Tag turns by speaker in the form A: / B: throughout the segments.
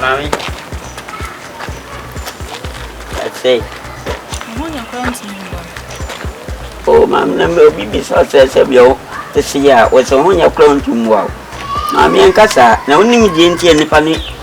A: Mami. That's it. Oh, mami, na mɛ obi bi sɔ sɛ sɛ bi o esi a wɔsɛ ho nyɛ kura ntum wa o. Mami ɛnkasa na onim deɛ nti a nipa ne.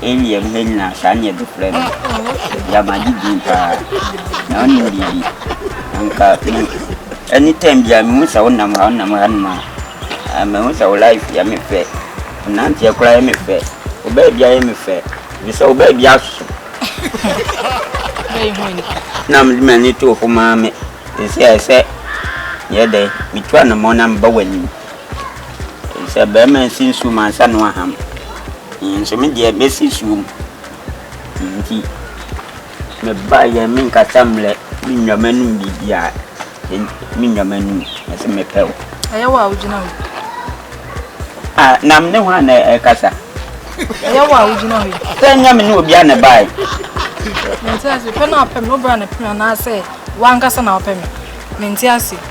B: Eyi yɛ mmerɛ nyinaa
A: saa ne yɛde frɛ no. Yama gye din paa. Na ɔnim biribi. Anka me anytime biara mehu sɛ wonam ha wonam ha nom a mehu sɛ wo life yɛ me fɛ. Wo nanteɛ koraa yɛ me fɛ. Wo baa biara yɛ me fɛ. Ɛfiri sɛ wo baa biara asoso. Na mede m'ani to wo fo maame. Seesei ayɛ sɛ meyɛ dɛn metu anamɔn na meba w'anim. Sɛ barima nsi nsuo mu ansa na waham. Nanso me deɛ mɛsi nsuo mu. Nti mebaeɛ a menkasa mmrɛ me nnwa m'anom biribiara. Me nnwa m'anom mese mepɛ wo. Ɛyɛ wo a wogyina
B: hɔ.
A: Ah, na me ne hɔ a na ɛkasa. Ɛyɛ wo a
B: wogyina hɔ. Sɛ nyɛ me ne obi a
A: na ɛbaeɛ. Mente
B: ase, pɛ na apɛ me, wobra na pɛ me anaasɛ wankasa na wapɛ me. Mente ase.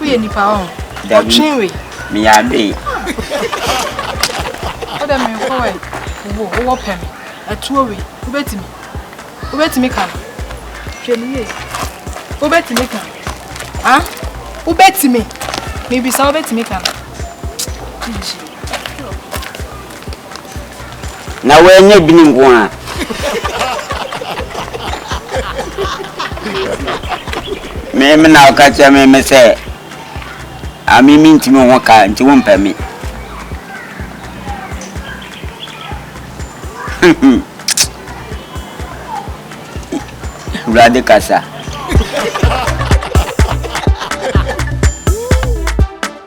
B: Woyɛ nipa ɔn. Ɔtwe we.
A: Meyɛ adoe.
B: Wodɛ me nfo ɛ. Wo wowɔ pɛ me. Ɛtuo we. Wobɛtumi. Wobɛtumi ka no. Hwɛ me yie. Wobɛtumi ka. Ha? Wobɛtumi. Mebisa wobɛtumi ka no. Gyigyi.
A: Na wɔannya bi no nko ara. Me me na ɔka kyerɛ me me sɛ ame me ntumi ho ka nti wo mpɛ me. Awurade kasa.